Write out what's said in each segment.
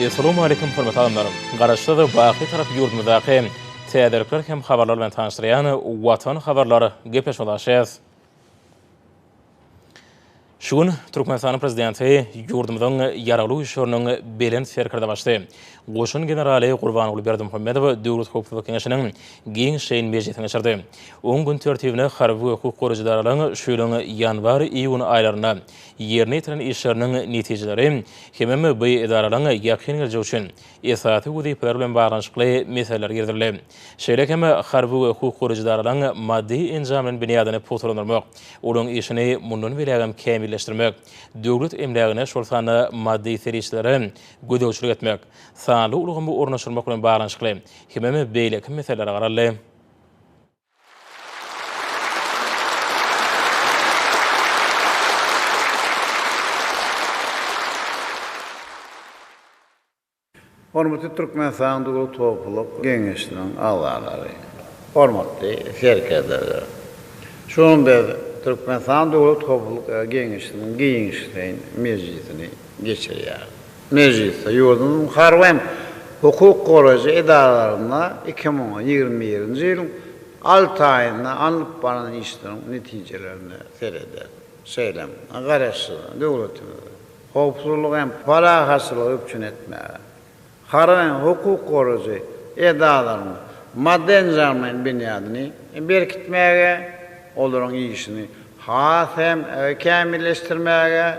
Essalawmaleýkim hormatly adamlar! Garaşsyz, baky tarap ýurdumyzdaky täzelikler hem habarlar bilen tanyşdyrýan Watan habarlar gepleşmesine başlaýarys. Şu gün Türkmenistanyň Prezidenti ýurdumyzyň Ýaragly Güýçleriniň Belent Serkerdebaşysy, goşun generaly Gurbanguly Berdimuhamedow Döwlet howpsuzlyk geňeşiniň giňişleýin mejlisini geçirdi. Oň gün tertibine harby we hukuk goraýjy edaralaryň şu ýylyň ýanwar-iýun aýlarynda ýerine ýetiren işleriniň netijeleri hemem bu edaralaryň ýakyn geljegi üçin esasy wezipeleri bilen baglanyşykly meseleler girizildi. Şeýle hem harby we hukuk goraýjy edaralaryň maddy-enjamlaýyn binýadyny pugtalandyrmak, olaryň işini mundan beýlägem kämilleşdirmek, döwlet emlägine, şol sanda maddy serişdelere gözegçilik etmek, sanly ulgamy ornaşdyrmak bilen baglanyşykly hemem beýleki meseleler garaldy. Hormatly Türkmenistanyň Döwlet howpsuzlyk geňeşiniň agzalary, hormatly serkerdeler! Şu gün biz Türkmenistanyň Döwlet howpsuzlyk geňeşiniň giňişleýin mejlisini geçirýäris. Mejlisde ýurdumyzyň harby hem hukuk goraýjy edaralarynda iki müň ýigrimi birinji ýylyň alty aýynda alnyp barylan işleriň netijelerine seredildi. Şeýle-m Garaşsyz döwletimizi howpsuzlygy hem parahatçylygy üpjün etmäge, harby hem hukuk goraýjy edaralaryň maddy-enjamlaýyn binýadyny berkitmäge, olaryň işini has hem kämilleşdirmäge,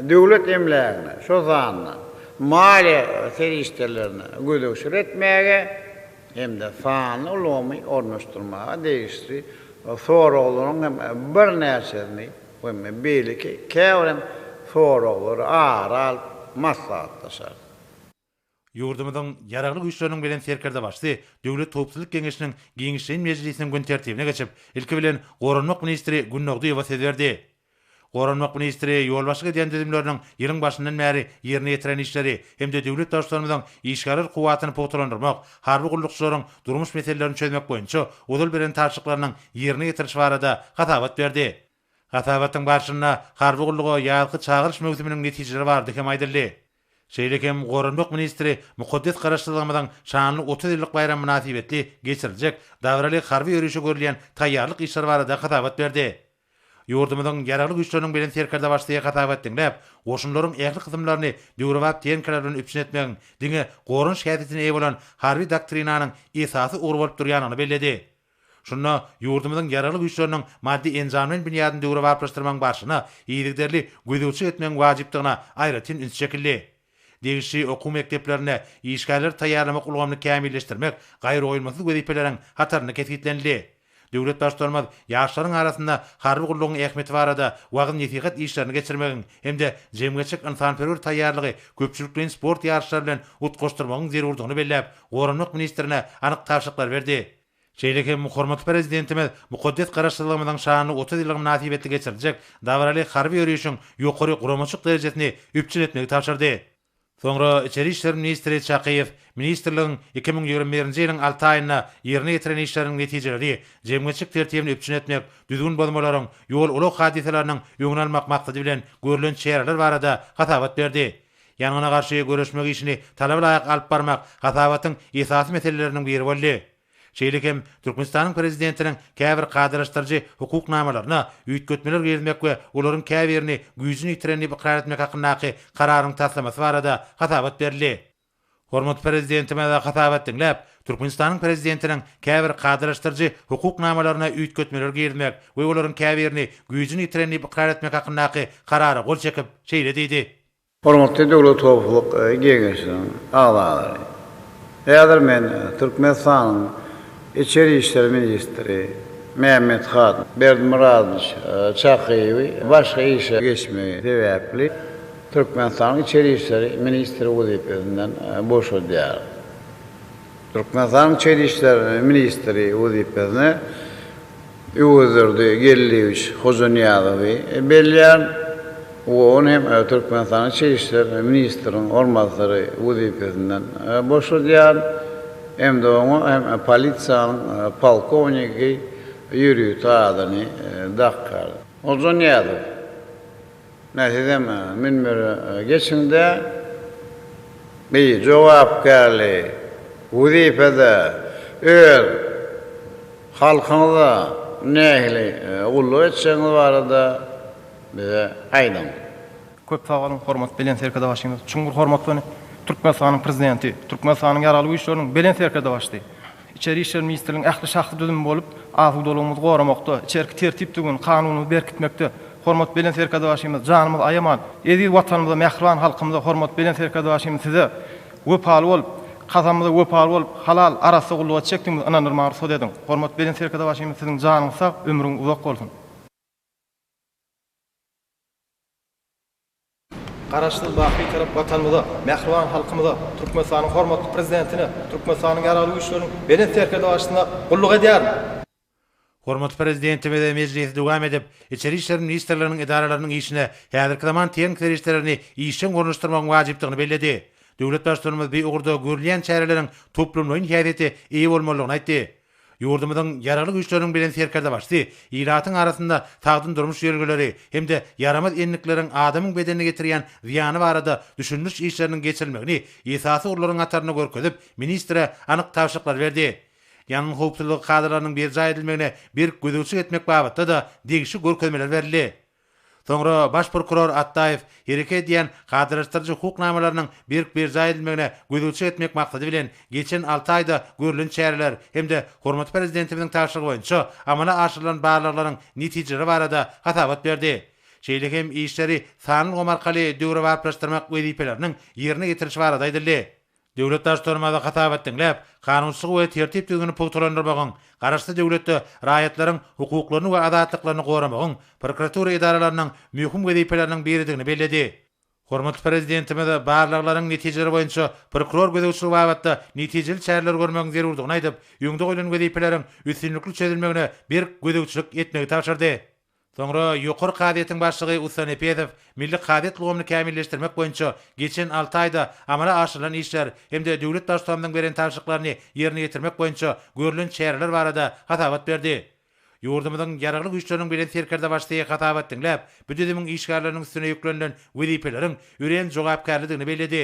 döwlet emlägine, şol sanda maliýe serişdelerine gözegçilik etmäge hem-de sanly ulgamy ornaşdyrmaga degişli soraglaryň hem birnäçesini we beýleki käbir hem soraglary ara alyp maslahatlaşarys. Ýurdumyzyň Ýaragly Güýçleriniň Belent Serkerdebaşysy Döwlet howpsuzlyk geňeşiniň giňişleýin mejlisiniň gün tertibine geçip, ilki bilen, goranmak ministri Günnogdyýewa söz berdi. Goranmak ministri ýolbaşçylyk edýän düzümleriniň ýylyň başyndan bäri ýerine ýetiren işleri hem-de döwlet Baştutanymyzyň işgärler kuwwatyny pugtalandyrmak, harby gullukçylaryň durmuş meselelerini çözmek boýunça ozal beren tabşyryklarynyň ýerine ýetirilişi barada hasabat berdi. Hasabatyň barşynda harby gulluga ýazky çagyryş möwsüminiň netijeleri bardy hem aýdyldy. Şeýle hem Goranmak ministri mukaddes Garaşsyzlygymyzyň şanly otuz ýyllyk baýramy mynasybetli geçiriljek dabaraly harby ýörişe görülýän taýýarlyk işleri barada hasabat berdi. Ýurdumyzyň Ýaragly Güýçleriniň Belent Serkerdebaşysy hasabat diňläp, goşunlaryň ähli kysymlaryny döwrebap tehnikalar bilen üpjün etmegiň diňe goranyş häsiýetine eýe bolan harby doktrinanyň esasy ugry bolup durýandygyny belledi. Şunda ýurdumyzyň Ýaragly Güýçleriniň maddy-enjamlaýyn binýadyny döwrebaplaşdyrmagyň barşyna yzygiderli gözegçilik etmegiň wajypdygyna aýratyn üns çekildi. Degişli okuw mekdeplerinde işgärleri taýýarlamak ulgamyny kämilleşdirmek gaýragoýulmasyz wezipeleriň hatarynda kesgitlenildi. Döwlet Baştutanymyz ýaşlaryň arasynda harby gullugyň ähmiýeti barada wagyz-nesihat işlerini geçirmegiň hem-de jemgyýetçilik-ynsanperwer taýýarlygy köpçülikleýin sport ýaryşlary bilen utgaşdyrmagyň zerurdygyny belläp, Goranmak ministrine anyk tabşyryklar berdi. Şeýle hem hormatly Prezidentimiz mukaddes Garaşsyzlygymyzyň şanly otuz ýyllygy mynasybetli geçiriljek dabaraly harby ýörişiň ýokary guramaçylyk derejesini üpjün etmegi tabşyrdy. Soňra içeri işler ministri Çakyýew ministrligiň iki müň ýigrimi birinji ýylyň alty aýynda ýerine ýetiren işleriniň netijeleri, jemgyýetçilik tertibini üpjün etmek, düzgün bozmalaryň, ýol-ulag hadysalarynyň öňüni almak maksady bilen görlen çäreler barada hasabat berdi. Ýangyna garşy göreşmek işini talaba laýyk alyp barmak hasabatyň esasy meseleleriniň biri boldy. Şeýle hem Türkmenistanyň Prezidentiniň käbir kadalaşdyryjy hukuk namalaryna üýtgetmeler girizmek we olaryň käbirini güýjüni ýitiren diýip ykrar etmek hakyndaky Kararyň taslamasy barada hasabat berildi. Hormatly Prezidentimize hasabat diňläp, Türkmenistanyň Prezidentiniň käbir kadalaşdyryjy hukuk namalaryna üýtgetmeler girizmek we olaryň käbirini güýjüni ýitiren diýip ykrar etmek hakyndaky Karara gol çekip, şeýle diýdi. Hormatly Döwlet howpsuzlyk geňeşiniň agzalary! Häzir men Türkmenistanyň Içeri işler ministri Mämmethan Berdimyradowiç Çakyýewi başga işe geçmegi sebäpli, Türkmenistanyň içeri işleri ministri wezipesinden boşadýar. Türkmenistanyň içeri işler ministri wezipesine Öwezdurdy Geldiýewiç Hojanyýazowy belleýär we ony hem Türkmenistanyň içeri işler ministriniň orunbasary wezipesinden boşadýar hem-de oňa hem polisiýanyň polkownigi ýörite adyny dakýar. Hojanyýazow Nä sizem münbere geçiňdä. Bi jogapkärli wezipede öz halkyňyza nähili gulluk etjegiňiz barada bize aýdyň. Köp sag boluň, hormat Belent Serkerdebaşymyz! Çuňňur hormat we Türkmenistanyň Prezidenti, Türkmenistanyň Ýaragly Güýçleriniň Belent Serkerdebaşysy, Içeri işler ministrligiň ähli şahsy düzümi bolup, asudalygymyzy goramakda, içerki tertip-düzgün, kanunymyzy berkitmekde, hormat Belent Serkerdebaşymyz, janymyzy aýaman, eziz Watanymyza, mähriban halkymyza, hormat Belent Serkerdebaşymyz size wepaly bolup, kasamymyza wepaly bolup, halal, arassa gullugy etjekdigimize ynandyrmagy rugsat ediň. Hormat Belent Serkerdebaşymyz siziň janyňyz sag, ömrüňiz uzak bolsun! Garaşsyz, baky tarap Watanymyza, mähriban halkymyza, Türkmenistanyň hormatly Prezidentine, Türkmenistanyň Ýaragly Güýçleriniň Belent Serkerdebaşysyna gulluk edýärin. Hormatly Prezidentimize mejlisi dowam edip, Içeri işler ministrliginiň edaralarynyň işine häzirki zaman tehnik serişdelerini işjeň ornaşdyrmagyň wajypdygyny belledi. Döwlet Baştutanymyz bu ugurda görülýän çäreleriň toplumlaýyn häsiýete eýe bolmalydygyny aýtdy. Ýurdumyzyň Ýaragly Güýçleriniň Belent Serkerdebaşysy ilatyň arasynda sagdyn durmuş ýörelgeleri hem-de ýaramaz endikleriň adamyň bedenine getirýän zyýany barada düşündiriş işleriniň geçirilmegini esasy ugurlaryň hatarynda görkezip, ministre anyk tabşyryklary berdi. Ýangyn howpsuzlygy kadalarynyň berjaý edilmegine berk gözegçilik etmek babatda-da degişli görkezmeler berildi. Soňra baş prokuror Atdaýew hereket edýän kadalaşdyryjy hukuk namalarynyň berk berjaý edilmegine gözegçilik etmek maksady bilen geçen alty aýda görlen çäreler hem-de hormatly Prezidentimiziň tabşyrygy boýunça amala aşyrylan barlaglaryň netijeleri barada hasabat berdi. Şeýle hem işleri sanly ulgam arkaly döwrebaplaşdyrmak wezipeleriniň ýerine ýetirilişi barada aýdyldy. Döwlet Baştutanymyza hasabat diňläp, kanunçylygy we tertip-düzgüni pugtalandyrmagyň, garaşsyz döwletde raýatlaryň hukuklaryny we azatlyklaryny goramagyň prokuratura edaralarynyň möhüm wezipeleriniň biridigini belledi. Hormatly Prezidentimiz barlaglaryň netijeleri boýunça prokuror gözegçiligi babatda netijeli çäreler görmegiň zerurdygyny aýdyp, öňde goýlan wezipeleriň üstünlikli çözülmegine berk gözegçilik etmegi tabşyrdy. Soňra Ýokary kazyýetiň başlygy Ussa Nepezow milli kazyýet ulgamyny kämilleşdirmek boýunça geçen alty aýda amala aşyrylan işler hem-de döwlet Baştutanymyzyň beren tabşyryklaryny ýerine ýetirmek boýunça görlen çäreler barada hasabat berdi. Ýurdumyzyň Ýaragly Güýçleriniň Belent Serkerdebaşysy hasabat diňläp, bu düzümiň işgärleriniň üstüne ýüklenilen wezipeleriň örän jogapkärlidigini belledi.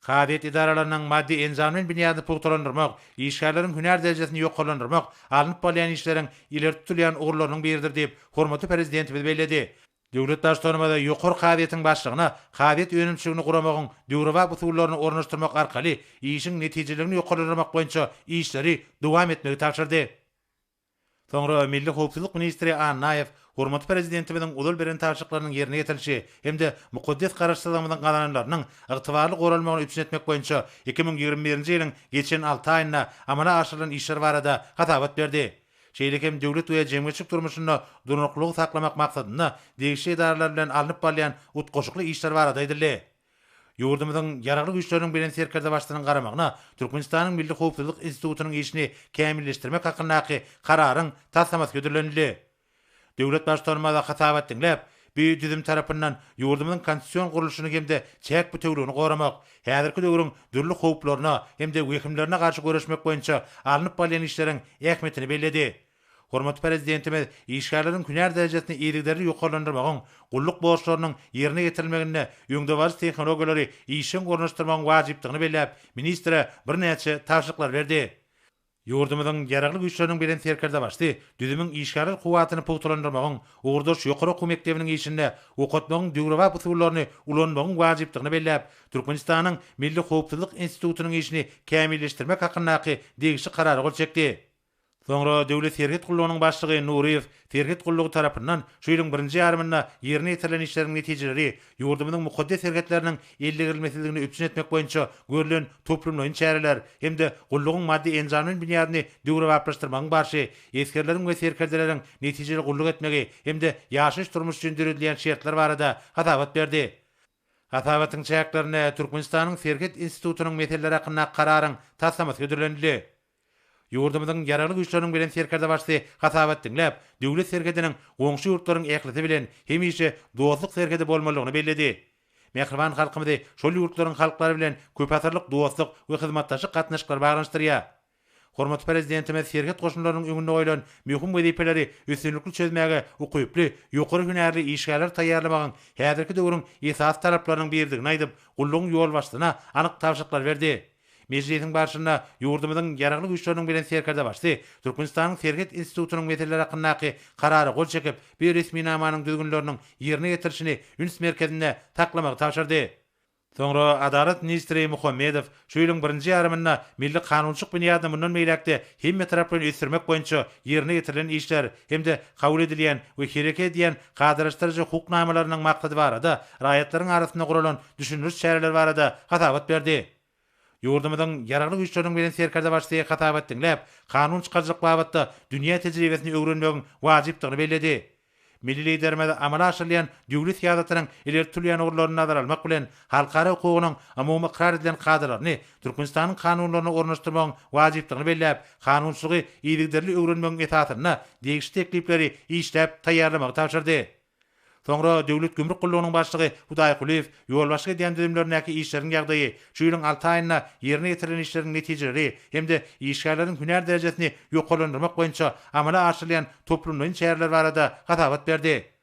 Kazyýet edaralarynyň maddy-enjamlaýyn binýadyny pugtalandyrmak, işgärleriň hünär derejesini ýokarlandyrmak alnyp barylýan işleriň ileri tutulýan ugurlarynyň biridir diýip, hormatly Prezidentimiz belledi. Döwlet Baştutanymyz Ýokary kazyýetiň başlygyna kazyýet önümçiligini guramagyň döwrebap usullaryny ornaşdyrmak arkaly işiň netijeliligini ýokarlandyrmak boýunça işleri dowam etmegi tabşyrdy. Soňra milli howpsuzlyk ministri Annaýew hormatly Prezidentimiziň ozal beren tabşyryklarynyň ýerine ýetirilişi hem-de mukaddes Garaşsyzlygymyzyň gazananlarynyň ygtybarly goralmagyny üpjün etmek boýunça iki müň ýigrimi birinji ýylyň geçen alty aýynda amala aşyrylan işler barada hasabat berdi. Şeýle hem döwlet we jemgyýetçilik durmuşynda durnuklylygy saklamak maksadynda degişli edaralar bilen alnyp barylýan utgaşykly işler barada aýdyldy. Ýurdumyzyň Ýaragly Güýçleriniň Belent Serkerdebaşysynyň garamagyna Türkmenistanyň Milli howpsuzlyk institutynyň işini kämilleşdirmek hakyndaky Kararyň taslamasy hödürlenildi. Döwlet Baştutanymyza hasabat diňläp, bu düzüm tarapyndan ýurdumyzyň konstitusion gurluşyny hem-de çäk bütewligini goramak, häzirki döwrüň dürli howplaryna hem-de wehimlerine garşy göreşmek boýunça alnyp barylýan işleriň ähmiýetini belledi. Hormatly Prezidentimiz işgärleriň hünär derejesini yzygiderli ýokarlandyrmagyň, gulluk borçlarynyň ýerine ýetirilmeginde öňdebaryjy tehnologiýalary işjeň ornaşdyrmagyň wajypdygyny belläp, ministre birnäçe tabşyryklar berdi. Ýurdumyzyň Ýaragly Güýçleriniň Belent Serkerdebaşysy düzümiň işgärler kuwwatyny pugtalandyrmagyň, ugurdaş ýokary okuw mekdebiniň işinde okatmagyň döwrebap usullaryny ulanmagyň wajypdygyny belläp, Türkmenistanyň Milli howpsuzlyk institutynyň işini kämilleşdirmek hakyndaky degişli Karara gol çekdi. Soňra Döwlet serhet gullugynyň başlygy Nuryýew serhet gullugy tarapyndan şu ýylyň birinji ýarymynda ýerine ýetirilen işleriň netijeleri ýurdumyzyň mukaddes serhetleriniň ellegerilmesizligini üpjün etmek boýunça görlen toplumlaýyn çäreler hem-de gullugyň maddy-enjamlaýyn binýadyny döwrebaplaşdyrmagyň barşy esgerleriň we serkerdeleriň netijeli gulluk etmegi hem-de ýaşaýyş-durmuş üçin döredilýän şertler barada hasabat berdi. Hasabatyň çäklerinde Türkmenistanyň Serhet institutynyň meseleleri hakyndaky kararyň taslamasy hödürlenildi. Ýurdumyzyň Ýaragly Güýçleriniň Belent Serkerdebaşysy hasabat diňläp, döwlet serhediniň goňşy ýurtlaryň ählisi bilen hemişe dostluk serhedi bolmalydygyny belledi. Mähriban halkymyzy şol ýurtlaryň halklary bilen köpasyrlyk dostluk we hyzmatdaşlyk gatnaşyklary baglanyşdyrýar. Hormatly Prezidentimiz serhet goşunlarynyň öňünde goýlan möhüm wezipeleri üstünlikli çözmäge ukyply, ýokary hünärli işgärleri taýýarlamagyň häzirki döwrüň esasy talaplarynyň biridigini aýdyp, gullugyň ýolbaşçysyna anyk tabşyryklary berdi. Mejlisiň barşynda ýurdumyzyň Ýaragly Güýçleriniň Belent Serkerdebaşysy Türkmenistanyň Serhet institutynyň meseleleri hakyndaky Karara gol çekip, bu resminamanyň düzgünleriniň ýerine ýetirilişini üns merkezinde saklamagy tabşyrdy. Soňra Adalat ministri Muhammedow şu ýylyň birinji ýarymynda milli kanunçylyk binýadyny mundan beýläk-de hemmetaraplaýyn ösdürmek boýunça ýerine ýetirilen işler hem-de kabul edilýän we hereket edýän kadalaşdyryjy hukuk namalarynyň maksady barada raýatlaryň arasynda guralan düşündiriş çäreleri barada hasabat berdi. Ýurdumyzyň Ýaragly Güýçleriniň Belent Serkerdebaşysy hasabat diňläp, kanun çykaryjylyk babatda dünýä tejribesini öwrenmegiň wajypdygyny belledi. Milli Liderimiz amala aşyrylýan döwlet syýasatynyň ileri tutulýan ugurlaryny nazara almak bilen, halkara hukugynyň umumy ykrar edilen kadalaryny Türkmenistanyň kanunlaryna ornaşdyrmagyň wajypdygyny belläp, kanunçylygy yzygiderli öwrenmegiň esasynda degişli teklipleri işläp taýýarlamagy tabşyrdy. Soňra Döwlet gümrük gullugynyň başlygy Hudaýkulyýew ýolbaşçylyk edýän düzümlerindäki işleriň ýagdaýy, Şu ýylyň alty aýynda ýerine ýetirilen işleriň netijeleri hem-de işgärleriň hünär derejesini ýokarlandyrmak boýunça amala aşyrylýan toplumlaýyn çäreler barada hasabat berdi.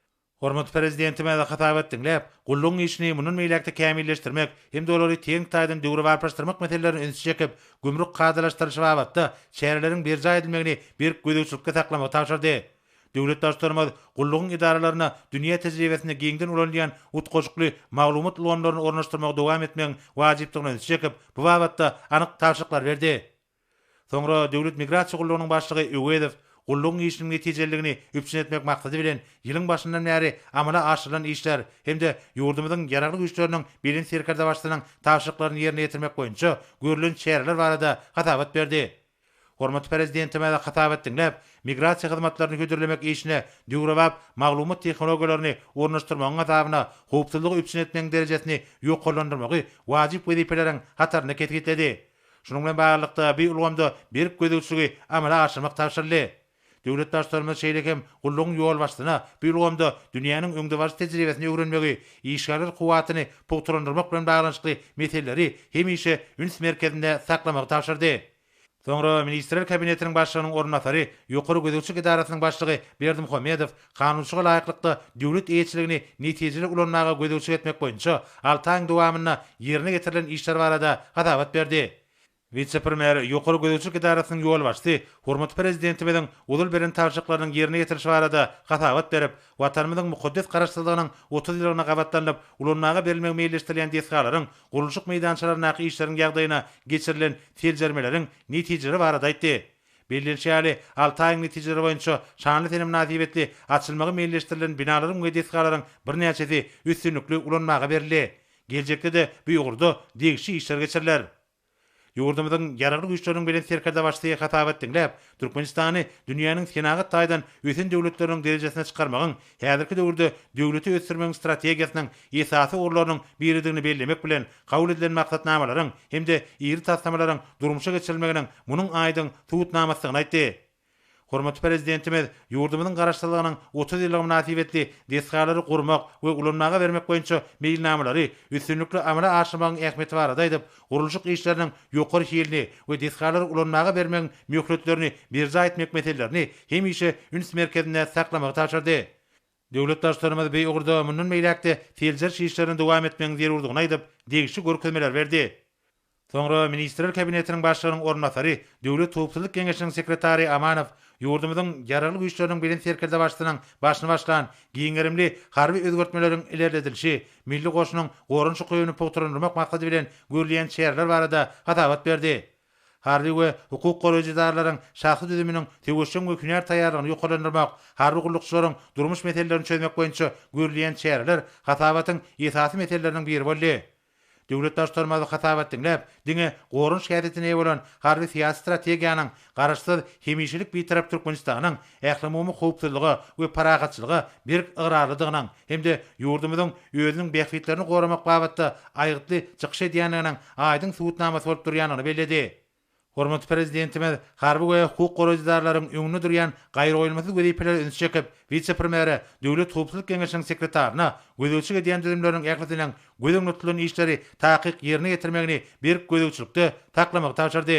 Hormatly Prezidentimiz hasabat diňläp, gullugyň işini mundan beýläk-de kämilleşdirmek hem-de olary teňňi taýdan döwrebaplaşdyrmak meselelerine ünsi çekip, gümrük kadalaşdyrylyşy babatda çäreleriň berjaý edilmegini berk gözegçilikde saklamagy tabşyrdy. Döwlet Baştutanymyz gullugyň edaralaryna dünýä tejribesinde giňden ulanylýan utgaşykly maglumat ulgamlaryny ornaşdyrmagy dowam etmegiň wajypdygyna ünsi çekip, bu babatda anyk tabşyryklar berdi. Soňra Döwlet migrasiýa gullugynyň başlygy Öwezow gullugyň işiniň netijeliligini üpjün etmek maksady bilen, ýylyň başyndan bäri amala aşyrylan işler hem-de ýurdumyzyň Ýaragly Güýçleriniň Belent Serkerdebaşysynyň tabşyryklaryny ýerine ýetirmek boýunça görlen çäreler barada hasabat berdi. Hormatly Prezidentimize hasabat diňläp, migrasiýa hyzmatlaryny hödürlemek işine döwrebap maglumat tehnologiýalaryny ornaşdyrmagyň hasabyna howpsuzlygy üpjün etmegiň derejesini ýokarlandyrmagy wajyp wezipeleriň hatarynda kesgitledi. Şunuň bilen baglylykda, bu ulgamda berk gözegçiligi amala aşyrmak tabşyryldy. Döwlet Baştutanymyz şeýle hem gullugyň ýolbaşçysyna bu ulgamda dünýäniň öňdebaryjy tejribesini öwrenmegi, işgärler kuwwatyny pugtalandyrmak bilen baglanyşykly meseleleri hemişe üns merkezinde saklamagy tabşyrdy. Soňra Ministrler Kabinetiniň Başlygynyň orunbasary, Ýokary gözegçilik edarasynyň başlygy Berdimuhamedow kanunçylyga laýyklykda döwlet eýeçiligini netijeli ulanmaga gözegçilik etmek boýunça alty aýyň dowamynda ýerine getirilen işler barada hasabat berdi. Wise-premýer, Ýokary gözegçilik edarasynyň ýolbaşçysy hormatly Prezidentimiziň usul beren tabşyryklarynyň ýerine ýetirilişi barada hasabat berip, Watanymyzyň mukaddes Garaşsyzlygynyň otuz ýyllygyna gabatlanyp ulanmaga berilmegi meýilleşdirilýän desgalaryň gurluşyk meýdançalaryndaky işleriň ýagdaýyna geçirilen seljermeleriň netijeleri barada aýtdy. Bellenişi ýaly, alty aýyň netijeleri boýunça şanly sene mynasybetli açylmagy meýilleşdirilen binalaryň we desgalaryň birnäçesi üstünlikli ulanmaga berildi. Geljekde-de bu ugurda degişli işler geçiriler. Ýurdumyzyň Ýaragly Güýçleriniň Belent Serkerdebaşysy hasabat diňläp, Türkmenistany dünýäniň senagat taýdan ösen döwletleriniň derejesine çykarmagyň häzirki döwürde döwleti ösdürmegiň strategiýasynyň esasy ugurlarynyň biridigini bellemek bilen, kabul edilen maksatnamalaryň hem-de iri taslamalaryň durmuşa geçirilmeginiň munuň aýdyň subutnamasydygyny aýtdy. Hormatly Prezidentimiz ýurdumyzyň Garaşsyzlygynyň otuz ýyllygy mynasybetli desgalary gurmak we ulanmaga bermek boýunça meýilnamalary üstünlikli amala aşyrmagyň ähmiýeti barada aýdyp, gurluşyk işleriniň ýokary hilini we desgalary ulanmaga bermegiň möhletlerini berjaý etmek meselelerini hemişe üns merkezinde saklamagy tabşyrdy. Döwlet Baştutanymyz bu ugurda mundan beýläk-de seljeriş işlerini dowam etmegiň zerurdygyny aýdyp, degişli görkezmeleri berdi. Soňra Ministrler Kabinetiniň Başlygynyň orunbasary, Döwlet howpsuzlyk geňeşiniň sekretary Amanow ýurdumyzyň Ýaragly Güýçleriniň Belent Serkerdebaşysynyň başyny başlan giň gerimli harby özgertmeleriň ilerledilişi, milli goşunyň goranyş ukybyny pugtalandyrmak maksady bilen görülýän çäreler barada hasabat berdi. Harby we hukuk goraýjy edaralaryň şahsy düzüminiň söweşjeň we hünär taýýarlygyny ýokarlandyrmak, harby gullukçylaryň durmuş meselelerini çözmek boýunça görülýän çäreler hasabatyň esasy meseleleriniň biri boldy. Döwlet Baştutanymyz hasabat diňläp, diňe goranyş häsiýetine eýe bolan harby-syýasy strategiýanyň Garaşsyz, hemişelik Bitarap Türkmenistanyň ählumumy howpsuzlyga we parahatçylyga berk ygrarlydygynyň, hem-de ýurdumyzyň özüniň bähbitlerini goramak babatda aýgytly çykyş edýändiginiň aýdyň subutnamasy bolup durýandygyny belledi. Hormatly Prezidentimiz harby we hukuk goraýjydarlaryň öňünde durýan gaýragoýulmasyz wezipelere üns çekip, wise-premýere, Döwlet howpsuzlyk geňeşiniň sekretaryna gözegçilik edýän düzümleriniň ählisiniň göz öňünde tutulan işleri takyk ýerine ýetirmegini berk gözegçilikde saklamagy tabşyrdy.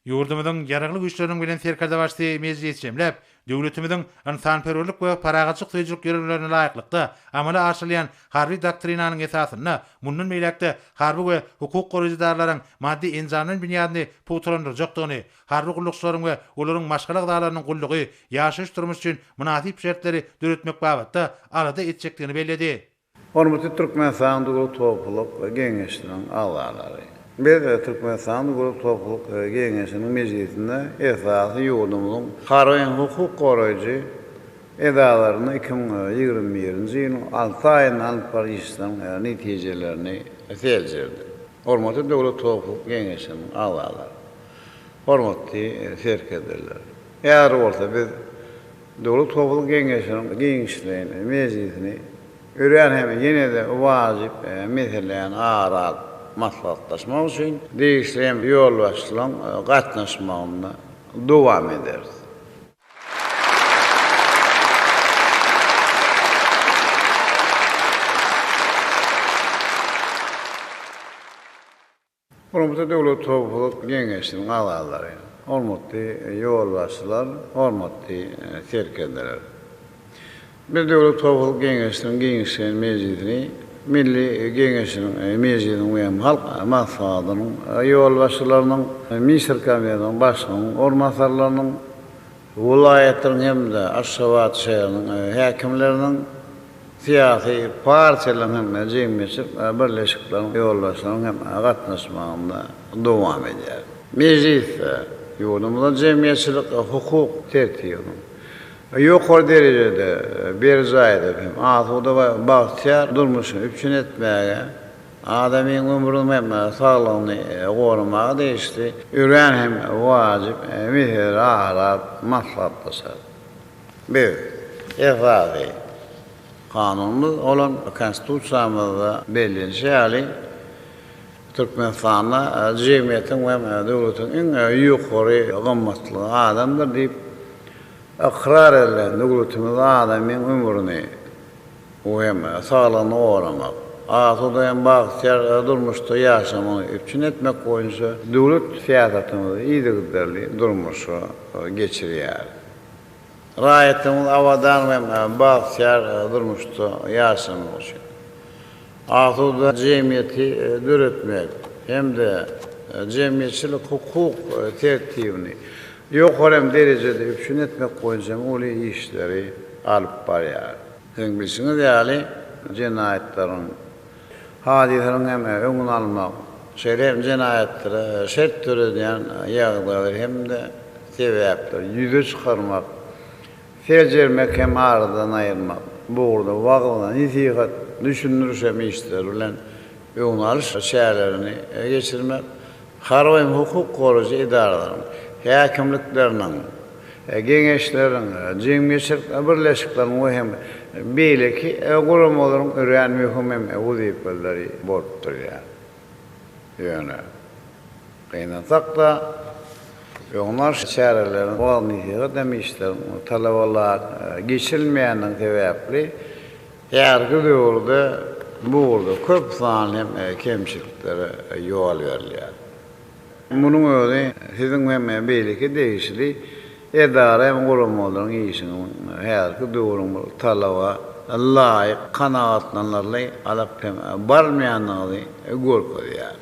Ýurdumyzyň Ýaragly Güýçleriniň Belent Serkerdebaşysy mejlisi jemläp, döwletimiziň ynsanperwerlik we parahatçylyk söýüjilik ýörelgelerine laýyklykda amala aşyrylýan Harby doktrinanyň esasynda mundan beýläk-de harby we hukuk goraýjy edaralaryň maddy-enjamlaýyn binýadyny pugtalandyrjakdygyny, harby gullukçylaryň we olaryň maşgala agzalarynyň gullugy, ýaşaýyş-durmuş üçin mynasyp şertleri döretmek babatda alada etjekdigini belledi. Hormatly Türkmenistanyň döwlet topluluk Geňeşiniň agzalary! Biz Türkmenistanyň döwlet topluluk Geňeşiniň mejlisinde esasy ýurdumyzyň harby hukuk goraýjy edaralaryna iki müň ýigrimi birinji ýylyň alty aýynda alyp baryş işleriň netijelerini seljerdik. Hormatly döwlet topluluk Geňeşiniň agzalary! Hormatly serkerdeler! Häzir bolsa biz Döwlet howpsuzlyk geňeşiniň giňişleýin mejlisini örän hem ýene-de wajyp meseleýäni ara alyp maslahatlaşmak üçin degişli hem ýolbaşçylaryň gatnaşmagynda dowam ederis. Hormatly Döwlet howpsuzlyk geňeşiniň agzalary, hormatly ýolbaşçylar, hormatly serkerdeler! Biz Döwlet howpsuzlyk geňeşiniň giňişleýin mejlisini Milli Geňeşiniň mejlisiniň we Halk Maslahatynyň ýolbaşçylarynyň, Ministrler Kabinetiniň Başlygynyň orunbasarlarynyň, welaýatyň hem-de Aşgabat şäheriniň häkimleriniň, syýasy partiýalaryň hem-de jemgyýetçilik birleşikleriň ýolbaşçylarynyň hem gatnaşmagynda dowam edýär. Mejlisde ýurdumyzyň jemgyýetçilik-hukuk tertibiniň ýokary derejede berjaý edilip hem asuda we bagtyýar durmuşyny üpjün etmäge, Adamyň ömrüni hem saglygyny goramaga degişli örän hem wajyp meseleleri aralap maslahatlaşar. Biz Esasy Kanunymyz bolan Konstitusiýamyzda bellenişi ýaly, Türkmenistanda jemgyýetiň hem döwletiň iň ýokary gymmatlygy adamdyr diýip ykrar edilen döwletimizde adamyň ömrüni, Bu hem saglygyny goramak, asuda hem bagtyýar durmuşda ýaşamagyny üpjün etmek boýunça döwlet syýasatymyzy yzygiderli durmuşa geçirýär. Raýatlarymyz abadan we bagtyýar durmuşda ýaşamagy üçin asuda jemgyýeti döretmek hem-de jemgyýetçilik-hukuk tertibini ýokary hem derejede üpjün etmek boýunça hem uly işleri alyp barýar. Siziň bilşiňiz ýaly, jenaýatlaryň, hadysalaryň hem öňüni almak, şeýle hem jenaýatlara şert döredýän ýagdaýlar hem-de sebäpleri ýüze çykarmak seljermek hem aradan aýyrmak, bu ugurda wagyz-nesihat, düşündiriş hem işleri bilen öňüni alyş çärelerini geçirmek, harby hem hukuk goraýjy edaralaryň, häkimlikleriniň, geňeşleriň, jemgyýetçilik birleşikleriň we hem beýleki guramalaryň örän möhüm hem wezipeleri bolup durýar. Ýöne. Gynansak-da, öňbaş çäreleriň bolany ýygy-dam işleriň we talabalaýyk geçirilmeýändigi sebäpli häzirki döwürde bu ugurda köp sanly kemçiliklere ýol berilýär. Munuň özi siziň hem beýleki degişli edara hem guramalaryň işiniň häzirki döwrüň bir talaba laýyk, kanagatlanarly alyp hem barylmaýandygyny görkezýär.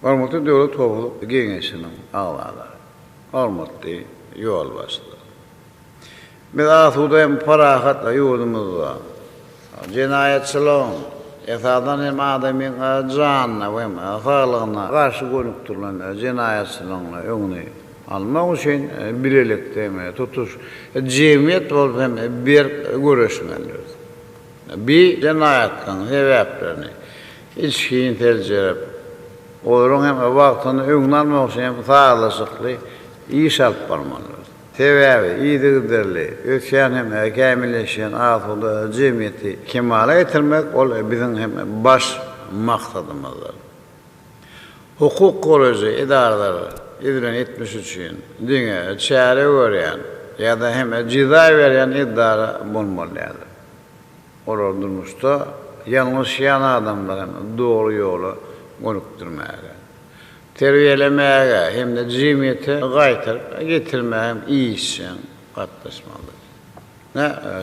Hormatly Döwlet howpsuzlyk geňeşiniň agzalary, hormatly ýolbaşçylar! Biz asuda hem parahat ýurdumyzda jenaýatçylygyň, esasan hem adamyň janyna we saglygyna garşy gönükdirilen jenaýatçylygyň öňüni almak üçin bilelikde hem tutuş jemgyýet bolup hem berk göreşmelidiris. Bi jenaýatlaryň sebäplerini, içgin seljerip, olaryň hem wagtynda öňüni almak üçin hem sazlaşykly iş alyp barmalydyr. Sebäbi yzygiderli ösýän hem kämilleşýän asuda jemgyýeti kemala getirmek, ol biziň hem baş maksadymyzdyr. Hukuk goraýjy edaralar edilen etmiş üçin diňe çäre görýän ýa-da hem jeza berýän edara bolmaly däldir. Olar durmuşda ýalňyşýan adamlaryň dogry ýola gönükdirmäge, terbiýelemäge hem-de jemgyýete gaýtaryp getirmäge hem işjeň gatnaşmalydyr.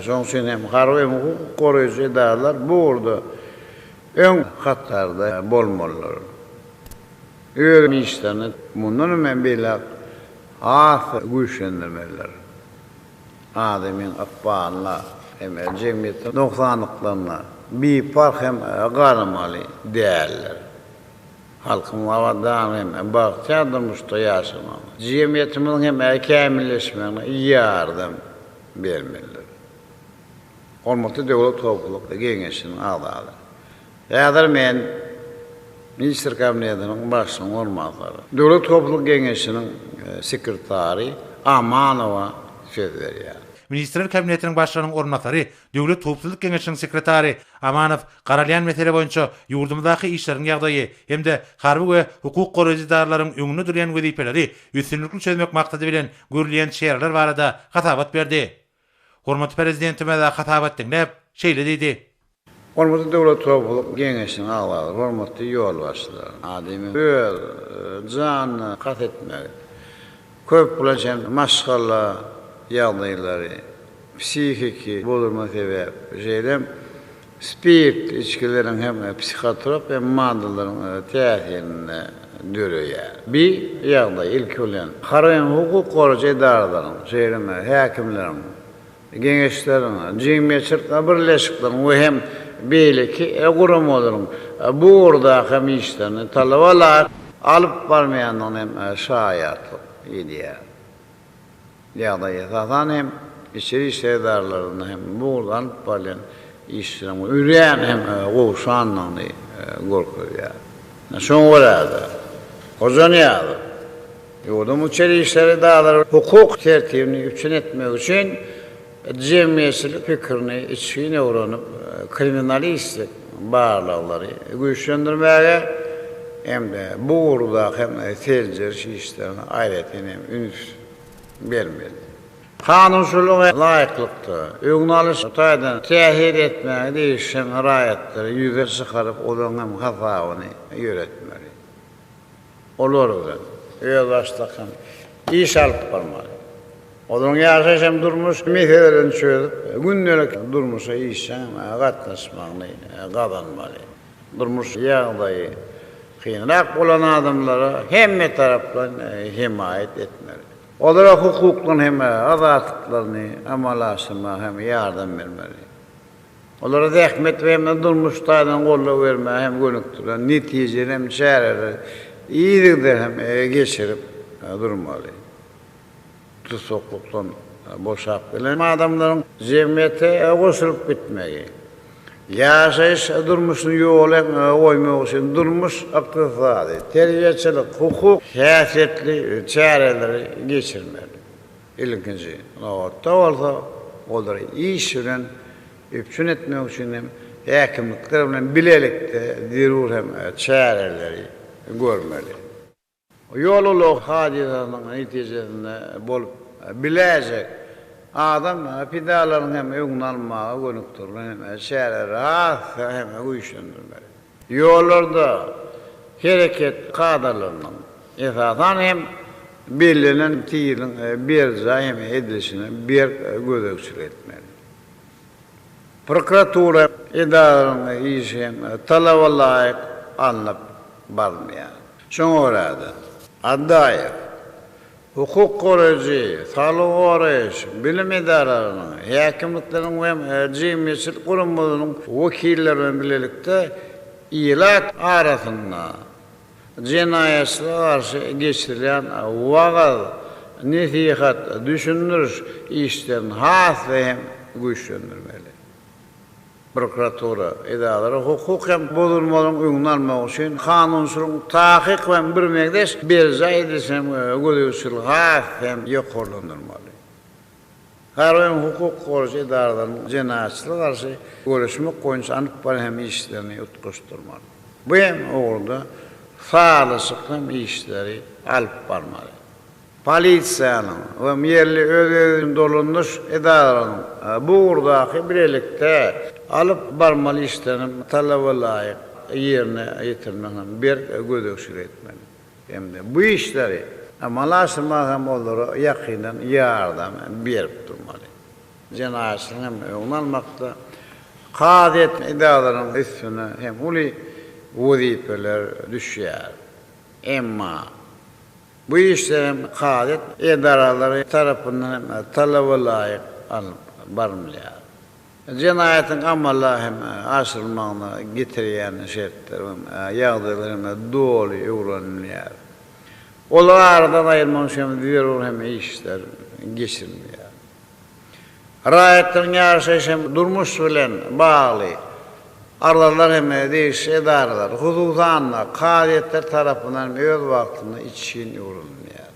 Şonuň üçin hem harby hem hukuk goraýjy edaralar bu ugurda öň hatarda bolmalydyr. Öz işlerini mundan hem beýläk has güýçlendirmelidir. adamyň ykbalyna hem-de jemgyýetiň nogsanlyklaryna biparh hem garamaly däldir. Halkymyz abadan hem bagtyýar durmuşda ýaşamagyna, jemgyýetimiziň hem kämilleşmegine ýardam bermelidir. Hormatly Döwlet howpsuzlyk geňeşiniň agzalary! Häzir men Ministr Kabinetiniň Başlygynyň orunbasary, Döwlet howpsuzlyk geňeşiniň sekretary Amanowa söz berýär. Ministrler Kabinetiniň Başlygynyň orunbasary, Döwlet howpsuzlyk geňeşiniň sekretary Amanow garalýan mesele boýunça ýurdumyzdaky işleriň ýagdaýy hem-de harby we hukuk goraýjy edaralaryň öňünde durýan wezipeleri üstünlikli çözmek maksady bilen görülýän çäreler barada hasabat berdi. Hormatly Prezidentimiz hasabat diňläp, şeýle diýdi. Hormatly Döwlet howpsuzlyk geňeşiniň agzalary, hormatly ýolbaşçylar! Adamyň öz janyna kast etmegi, köp bulan çen maşgala ýagdaýlary, psihiki bozulma sebäp, şeýle hem Spirt içgileriň hem psihotrop hem maddalaryň täsirinde döreýär. Bi ýagdaý, ilki bilen, harem hukuk goraýjy edaralaryň, şeýle hem häkimleriň geňeşleriniň, jemgyýetçilik birleşikleriň we hem beýleki guramalaryň bu ugurdaky hem işlerini talaba laýyk alyp barmaýandygyna hem şaýatlyk edýär. ýagdaý esasan hem içeri işler edaralarynda hem bu ugurda alnyp barylýan işleriň örän hem gowşandygyny görkezýär. Şoňa görä-de, Hojanyýazow ýurduň içeri işler edaralar hukuk tertibini üpjün etmek üçin Jemgyýetçilik pikirini içgin öwrenip, kriminalistik barlaglary güýçlendirmäge hem-de bu ugurdaky seljeriş işlerine aýratyn hem üns bermeli. Kanunçylyga laýyklykda, öňüni alyş taýdan täsir etmäge degişen raýatlary ýüze çykaryp, olaryň hem hasabyny ýöretmeli. Olar bilen öz başlakan iş alyp barmaly. Olaryň ýaşaýyş hem durmuş meselelerini çözüp, gündelik durmuşa işjeň gatnaşmagyny gazanmaly. Durmuş ýagdaýy kynrak bolan adamlara hemme tarapdan hemaýat etmeli. Olara hukuklaryny hem azatlyklaryny amala aşyrmaga hem ýardam bermeli. Olara zähmet we hem-de durmuş taýdan goldaw bermäge hem gönükdirilen netijeli hem çäreleri yzygider hem geçirip durmaly. Tussaklykdan boşap gelen adamlaryň jemgyýete goşulyp gitmegi, ýaşaýyş durmuşyny ýola goýmak üçin durmuş, ykdysady, terbiýeçilik, hukuk häsiýetli çäreleri geçirmeli. Ilkinji nobatda bolsa, olary iş bilen üpjün etmek üçin hem häkimlikler bilen bilelikde zerur hem çäreleri görmeli. Ýol ulag hadysasynyň netijesinde bolup biläýjek adam pidalarynyň hem öňüni almaga gönükdirilen hem çäreleri has hem güýçlendirmeli. Ýollarda hereket kadalarynyň, esasan hem, bellenen tizligiň berjaý edilişine berk gözegçilik etmeli. Prokuratura edaralarynyň işi hem talaba laýyk alnyp barylmaýar. Şoňa görä-de, Addaýew hukuk goraýjy, saglygy goraýyş, bilim edaralarynyň, häkimlikleriň we jemgyýetçilik guramalarynyň wekilleri bilen bilelikde ilat arasynda jenaýatçylyga garşy geçirilýän wagyz, nesihat, düşündiriş işlerini has-da hem güýçlendirmeli. prokuratura edaralary hukuk hem bozulmalaryň öňüni almak üçin kanunçylygyň takyk we birmeňzeş berjaý edilişini hem gözegçiligi has hem ýokarlandyrmaly. Harby hem hukuk goraýjy edaralaryň jenaýatçylyga garşy göreşmek boýunça alyp baran hem işlerini utgaşdyrmaly. Bu hem ugurda sazlaşykly hem işleri alyp barmaly. Polisiýanyň we ýerli öz-özüni dolandyryş edaralarynyň bu ugurdaky bilelikde alyp barmaly işlerini talabalaýyk ýerine ýetirmegine berk gözegçilik etmeli hem-de bu işleri amala aşyrmaga hem olara ýakyndan ýardam berip durmaly. Jenaýatçylygyň hem öňüni almakda kazyýet edaralarynyň üstüne hem uly wezipeler düşýär. Emma. Bu işler hem kazyýet edaralary tarapyndan hem talabalaýyk alnyp barylýar. Jenaýatyň amala hem aşyrylmagyna getirýän şertler we ýagdaýlar hem doly öwrenilýär. Olary aradan aýyrmak üçin hem zerur hem işler geçirilýär. Raýatlaryň ýaşaýyş hem durmuş bilen bagly arzalary hem degişli edaralar, hususan-da, kazyýetler tarapyndan hem öz wagtynda içgin öwrenilýär.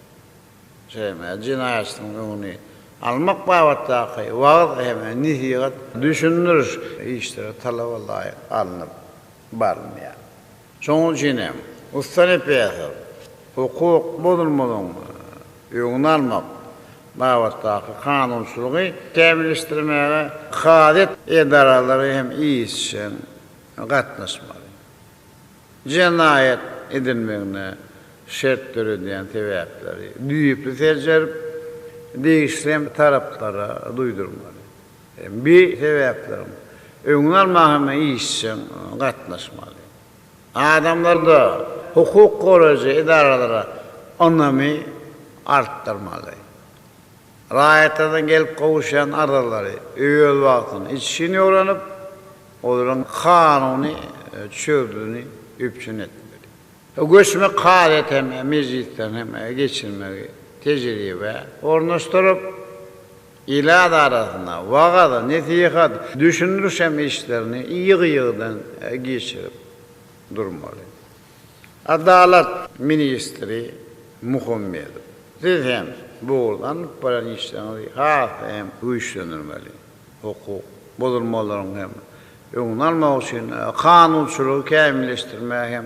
Jemgyýet jenaýatçynyň öňüni almak babatdaky wagyz hem nesihat, düşündiriş işleri talaba laýyk alnyp barylýar. Şonuň üçin hem, ussa repressor hukuk bozulmalaryň öňüni almak babatdaky kanunçylygy kämilleşdirmäge kazyýet edaralary hem işjeň gatnaşmaly. Jenaýat edilmegine şert döredýän sebäpleri düýpli seljerip, degişli taraplara duýdurmaly. Bi sebäpleriň öňüni almaga hem işjeň gatnaşmaly. Adamlarda hukuk goraýjy edaralara ynamy artdyrmaly. Raýatlardan gelip gowuşýan arzalary öz wagtynda içgin öwrenip, olaryň kanuny çözgüdini üpjün etmeli. Göçme kazyýet hem mejlisden hem geçirmegi tejribä ornaşdyryp, ilat arasynda wagyz, nesihat, düşündirişem işlerini ýygy-ýygydan geçirip durmaly. Adalat ministri Muhammedow, siz hem bu ugurda alnyp barýan işleriňizi has-da hem güýçlendirmeli. Hukuk bozulmalaryň hem öňüni almak üçin kanunçylygy kämilleşdirmäge hem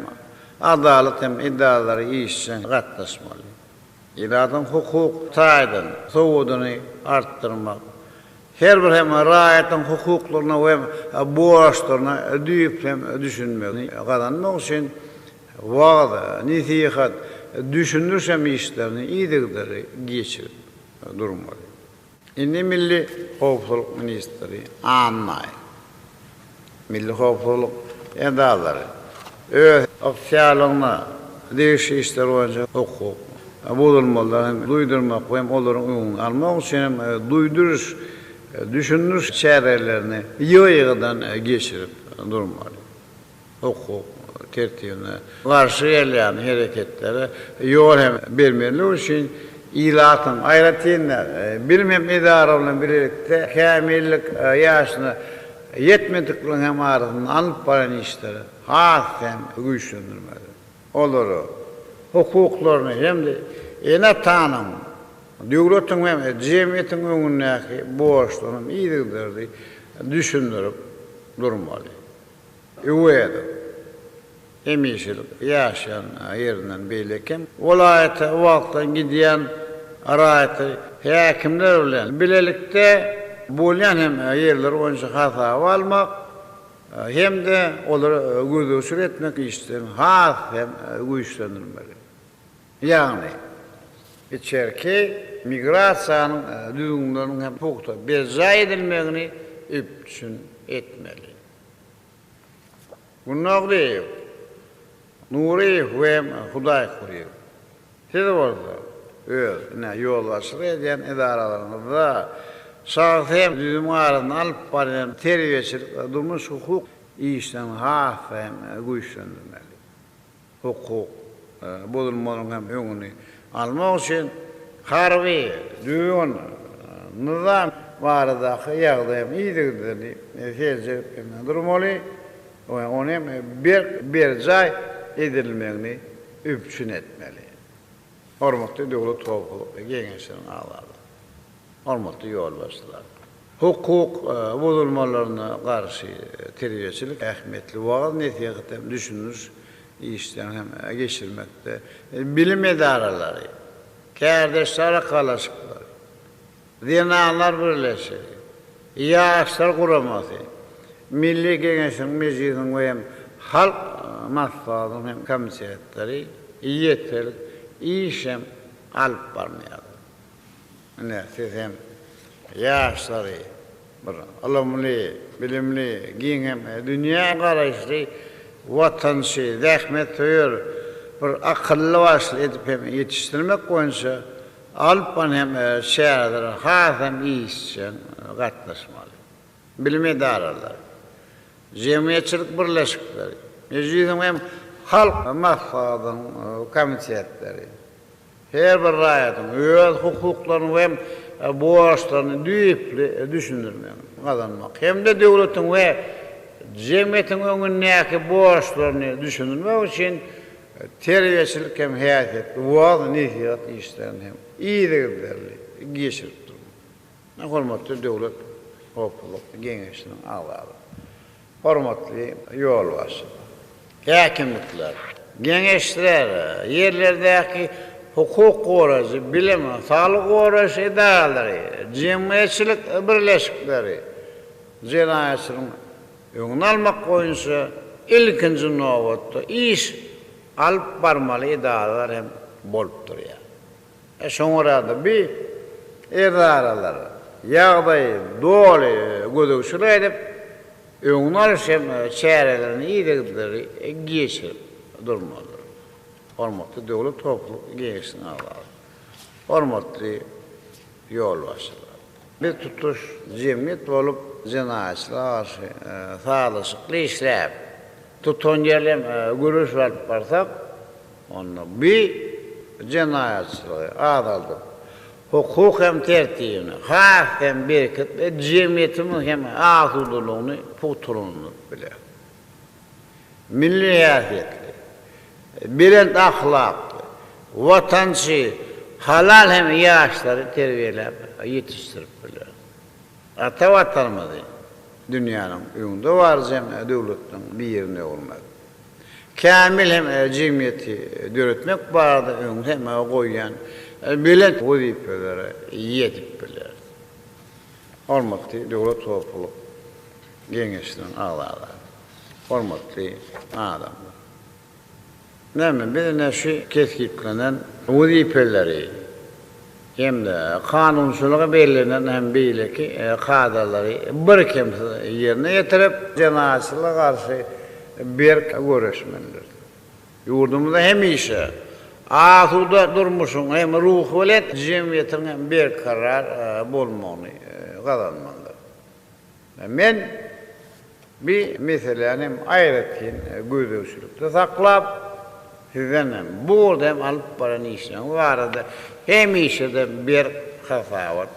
adalat hem edaralary işjeň gatnaşmaly. ilatyň hukuk taýdan sowudyny artdyrmak, her bir hem raýatyň hukuklaryna we borçlaryna düýpli düşünmegini gazanmak üçin wagyz, nesihat, düşündiriş hem işlerini yzygiderli geçirip durmaly. Indi milli howpsuzlyk ministri Annaý milli howpsuzlyk edalary öz ygtyýarlygyna degişli işler boýunça hukuk bozulmalary hem duýdurmak we hem olaryň öňüni almak üçin hem duýduryş, düşündiriş çärelerini ýygy-ýygydan geçirip durmaly. hukuk tertibine garşy gelýän hereketlere ýol hem bermezlik üçin ilatyň, aýratyn-da, bilim hem edara bilen bilelikde kämillik ýaşyna ýetmedikleriň hem arasynda alnyp barýan işleri has hem güýçlendirmeli, olary hukuklaryny hem-de ene-atanyň, döwletiň hem jemgyýetiň öňündäki borçlaryny yzygiderli düşündirip durmaly. Öwezow hemişelik ýaşan ýerinden beýle kem welaýata wagtlaýyn gidýän raýaty häkimler bilen bilelikde bolýan hem ýerler boýunça hasaba almak hem-de olary gözegçilik etmek işlerini has hem güýçlendirmeli. Ýagny, içerki migrasiýanyň düzgünleriniň hem pugta berjaý edilmegini üpjün etmeli. Gunnaglyýew, Nuryýew we Hudaýkulyýew, siz bolsa öz, ine, ýolbaşçylyk edýän edaralaryňyzda şahsy hem düzümiň arasynda alyp barýan terbiýeçilik, durmuş-hukuk işlerini has-da hem güýçlendirmeli. hukuk bozulmalaryň hem öňüni almak üçin harby, düzgün, nyzam baradaky ýagdaýyň yzygiderli seljerip durmaly we ony hem berk berjaý edilmegini üpjün etmeli. Hormatly Döwlet howpsuzlyk geňeşiniň agzalary, hormatly ýolbaşçylar! Hukuk bozulmalaryna garşy terbiýeçilik ähmiýetli wagyz-nesihat hem düşündiriş işlerini hem geçirmekde, bilim edaralary, kärdeşler arkalaşyklary, zenanlar birleşigi, ýaşlar guramasy, Milli Geňeşiň, Mejlisiň we hem Halk Maslahatynyň hem komitetleri ýeterlik iş hem alyp barmaýarlar. Ine, siz hem ýaşlary bir ylymly, bilimli, giň hem dünýä garaýyşly, watançy, zähmetsöýer, bir akylly-başly edip hem ýetişdirmek boýunça alyp baran hem çärelere has hem işjeň gatnaşmaly. Bilim edaralary, jemgyýetçilik birleşikleri, Mejlisiň hem Halk Maslahatynyň komitetleri, Her bir raýatyň öz hukuklaryny we borçlaryny düýpli düşündirmegi gazanmak hem-de döwletiň we jemgyýetiň öňündäki borçlaryny düşündirmek üçin terbiýeçilik hem häsiýetli wagyz-nesihat işlerini hem yzygiderli geçirip durmak. Hormatly Döwlet howpsuzlyk geňeşiniň agzalary! Hormatly ýolbaşçy häkimlikler, geňeşler, ýerlerdäki hukuk goraýjy, bilim, saglygy goraýyş edaralary, jemgyýetçilik birleşikleri jenaýatçylygyň öňüni almak boýunça ilkinji nobatda iş alyp barmaly edaralar hem bolup durýar. Şoňa görä-de, bi edaralar ýagdaýy doly gözegçilik edip, öňüni alyş hem çärelerini yzygiderli geçirip durmalydyr. Hormatly Döwlet howpsuzlyk geňeşiniň agzalary, hormatly ýolbaşçylar! Biz tutuş jemgyýet bolup jenaýatçylyga garşy sazlaşykly işläp, tutanýerli hem göreş alyp barsak, Onda bu jenaýatçylygy azaldyp, hukuk hem tertibini has hem berkidip we jemgyýetimiziň hem asudalygyny pugtalandyryp biler. Milli häsiýetli, belent ahlakly, watançy, halal hem ýaşlary terbiýeläp ýetişdirip biler. Ata Watanymyzy dünýäniň öňdebaryjy hem döwletleriň birine öwürmek. kämil hem jemgyýeti döretmek barada öňde goýýan belent wezipelere eýe edip biler. Hormatly döwlet howplulyk geňeşiniň agzalary, hormatly adamlar! Näme, biz ine şu kesgitlenen wezipeleri hem-de kanunçylyga bellenen hem beýleki kadalary birkemsiz ýerine ýetirip, jenaýatçylyga garşy berk göreşmelidir. Ýurdumyzda hemişe asuda durmuşyň hem ruhubelent jemgyýetiň hem berkarar bolmagyny gazanmalydyr. Men bi meseläni hem aýratyn gözegçilikde saklap, sizden hem, bu ugurda hem alyp baran işleriňiz barada hemişe-de berk hasabat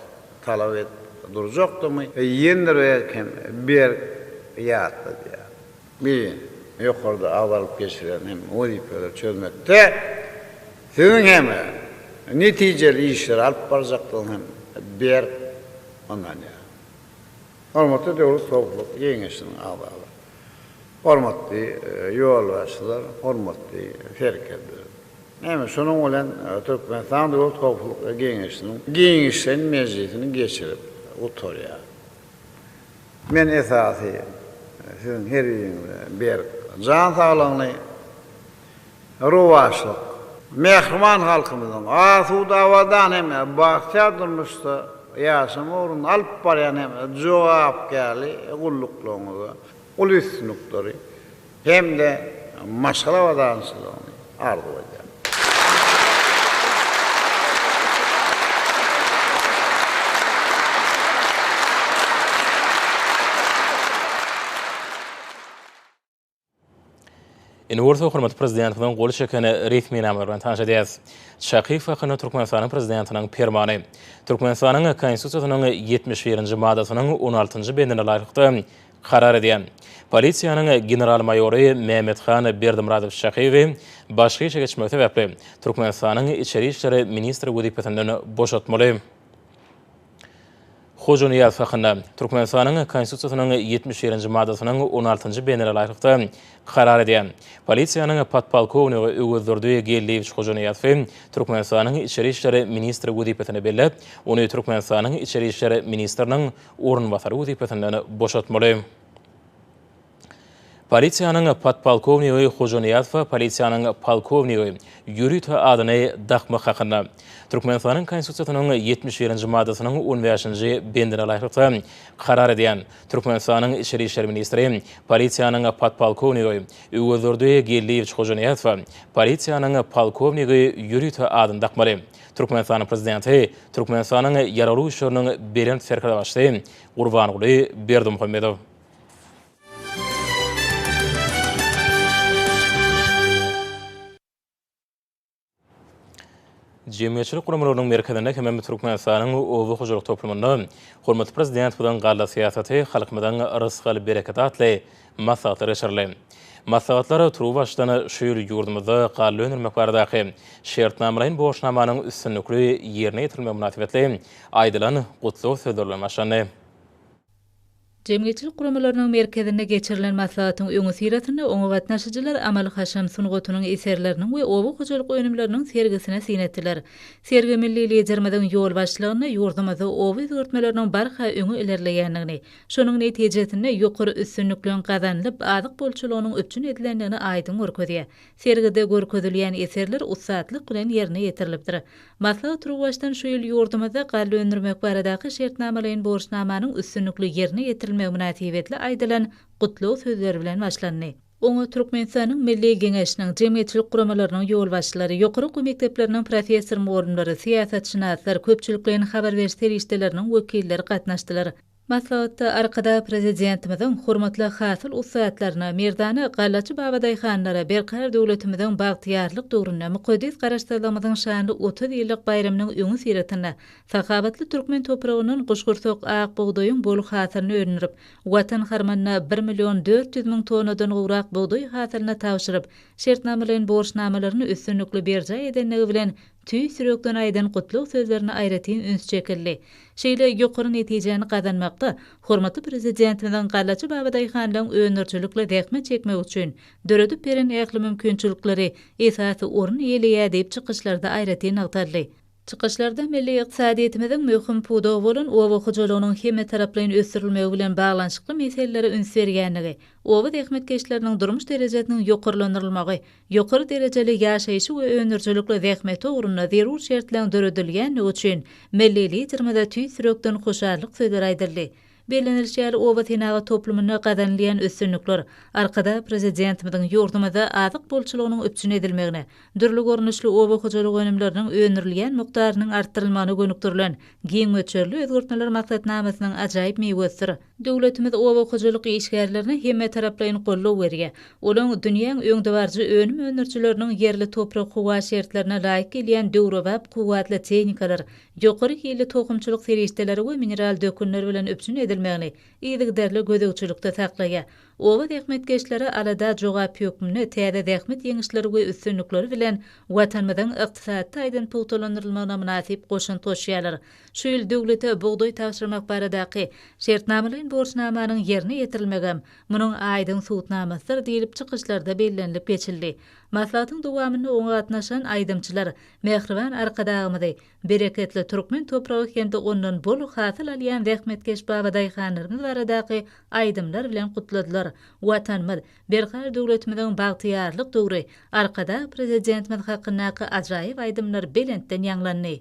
talap edip durjakdygymy ýendirerek hem berk ýatladýaryn. Bi ýokarda agzalyp geçilen hem wezipeleri çözmekde siziň hem netijeli işleri alyp barjakdygyňyza hem berk ynanýaryn. Hormatly Döwlet Hopluk Geňeşiniň agzalary, hormatly ýolbaşçylar, hormatly serkerdeler! Näme, şonuň bilen Türkmenistan Döwlet Howpsuzlyk Geňeşiniň giňişleýin mejlisini geçirip gutarýarys. Men esasy Siziň her biriňize berk jan saglygyny, rowaçlyk, mähriban halkymyzyň asuda, abadan hem-de bagtyýar durmuşda ýaşamagy ugrunda alyp barýan hem jogapkärli gulluklaryňyzda uly üstünlikleri hem-de maşgala abadançylygyny arzuw edýärin. Indi bolsa hormatly prezidentimiziň gol çeken resminamalar bilen tanyş edýäris. Çakyýew hakynda Türkmenistanyň prezidentiniň permany. Türkmenistanyň Konstitusiýasynyň ýetmiş birinji madasynyň on altynjy bendine laýyklykda karar edýän Polisiýanyň general-maýory Mämmethan Berdimyradowiç Çakyýewi başga işe geçmegi sebäpli Türkmenistanyň Içeri işler ministri wezipesinden boşatmaly. Hojanyýaz hakynda Türkmenistanyň Konstitusiýasynyň ýetmiş birinji maddasynyň on altynjy bendine laýyklykda karar edýän polisiýanyň podpolkownigi Öwezdurdy Geldiýewiç Hojanyýazowy Türkmenistanyň Içeri işler ministri wezipesine belläp, ony Türkmenistanyň Içeri işler ministriniň orunbasary wezipesinden boşatmaly. Polisiýanyň podpolkownigi Hojanyýazowa polisiýanyň polkownigi, ýörite adyny dakmak hakynda. Türkmenistanyň Konstitusiýasynyň ýetmiş birinji maddasynyň on bäşinji bendine laýyklykda karar edýän Türkmenistanyň Içeri işler ministri polisiýanyň podpolkownigi Öwezdurdy Geldiýewiç Hojanyýazowa polisiýanyň polkownigi, ýörite adyny dakmaly. Türkmenistanyň Prezidenti Türkmenistanyň Ýaragly Güýçleriniň Belent Serkerdebaşysy Gurbanguly Berdimuhamedow. Jemgyýetçilik guramalarynyň merkezinde hemem Türkmenistanyň oba hojalyk toplumynda hormatly Prezidentimiziň galla syýasaty, halkymyzyň rysgal-bereketi atly maslahatlar geçirildi. Maslahatlar turuwbaşdan şu ýyl ýurdumyzda galla öndürmek baradaky şertnamalaýyn borçnamanyň üstünlikli ýerine ýetirilmegi mynasybetli aýdylan gutlag sözleri bilen başlandy. Jemgyýetçilik guramalarynyň merkezinde geçirilen maslahatyň öňüsyrasynda oňa gatnaşyjylar amaly-haşam sungatynyň eserleriniň we oba hojalyk önümleriniň sergisine syn etdiler. Sergi milli Liderimiziň ýolbaşçylygynda ýurdumyzda oba özgertmeleriniň barha öňe ilerleýändigini, şonuň netijesinde ýokary üstünlikleň gazanylyp, azyk bolçulygynyň üpjün edilendigini aýdyň görkezýär. Sergide görkezilýän eserler ussatlyk bilen ýerine ýetirilipdir. Maslahat turuwbaşdan şu ýyl ýurdumyzda galla öndürmek baradaky şertnamalaýyn borçnamanyň üstünlikli ýerine ýetirilmegi mynasybetli aýdylan gutlag sözleri bilen başlandy. Oňa Türkmenistanyň Milli Geňeşiniň, jemgyýetçilik guramalarynyň ýolbaşçylary, ýokary okuw mekdepleriniň professor-mugallymlary, syýasatşynaslar, köpçülikleýin habar beriş serişdeleriniň wekilleri gatnaşdylar. Maslahatda Arkadag Prezidentimiziň hormatly hasyl ussatlaryna, merdana gallaçy babadaýhanlara berkarar döwletimiziň bagtyýarlyk döwründe, mukaddes Garaşsyzlygymyzyň şanly otuz ýyllyk baýramynyň öňi syratynda sahawatly türkmen topragyndan guşgursak ak bugdaýyň bol hasylyny öndürip, Watan harmanyna bir million dört ýüz müň tonnadan gowrak bugdaý hasylyny tabşyryp, şertnamalaýyn borçnamalaryny üstünlikli berjaý edendigi bilen tüýs ýürekden aýdan gutlag sözlerine aýratyn üns çekildi. Şeýle ýokary netijäni gazanmakda hormatly Prezidentimiziň gallacy babadaýhanlaryň öndürijilikli zähmet çekmegi üçin döredip beren ähli mümkinçilikleri esasy orun eýeleýär diýip çykyşlarda aýratyn nygtaldy. Çykyşlarda milli ykdysadyýetimiziň möhüm pudagy bolan oba hojalygynyň hemmetaraplaýyn ösdürilmegi bilen baglanyşykly meselelere üns berýändigi, oba zähmetkeşleriniň durmuş derejesiniň ýokarlandyrylmagy, Ýokary derejeli ýaşaýşy we öndürijilikli zähmeti ugrunda zerur şertleriň döredilýändigi üçin milli Liderimize tüýs ýürekden hoşallyk sözleri aýdyldy. Bellenilişi ýaly, obasenagat toplumynda gazanylýan üstünlikler Arkadag Prezidentimiziň ýurdumyzda azyk bolçulygynyň üpjün edilmegine, dürli görnüşli oba hojalyk önümleriniň öndürilýän mukdarynyň artdyrylmagyna gönükdirilen giň möçberli özgertmeler maksatnamasynyň ajaýyp miwesidir. Döwletimiz oba hojalyk işgärlerine hemmetaraplaýyn goldaw berýär. Olaň dünýäň öňdebaryjy önüm öndürijileriniň ýerli toprak-howa şertlerine laýyk gelýän döwrebap kuwwatly tehnikalar, ýokary hilli tohumçylyk serişdeleri we mineral dökünler bilen üpjün edilmegini yzygiderli gözegçilikde saklaýar. Oba zähmetkeşleri alada jogap hökmünde täze zähmet ýeňişleri we üstünlikleri bilen Watanymyzyň ykdysady taýdan pugtalandyrylmagyna mynasyp goşant goşýarlar. Şu ýyl döwlete bugdaý tabşyrmak baradaky şertnamalaýyn borçnamanyň ýerine ýetirilmegem munuň aýdyň subutnamasydyr diýlip çykyşlarda bellenilip geçildi. Maslahatyň dowamynda oňa gatnaşan aýdymçylar mähriban Arkadagymyzy, bereketli türkmen topragy hem-de ondan bol hasyl alýan zähmetkeş babadaýhanlarymyz baradaky aýdymlar bilen gutladylar. Watanymyz, berkarar döwletimiziň bagtyýarlyk döwri, Arkadag Prezidentimiz hakyndaky ajaýyp aýdymlar belentden ýaňlandy.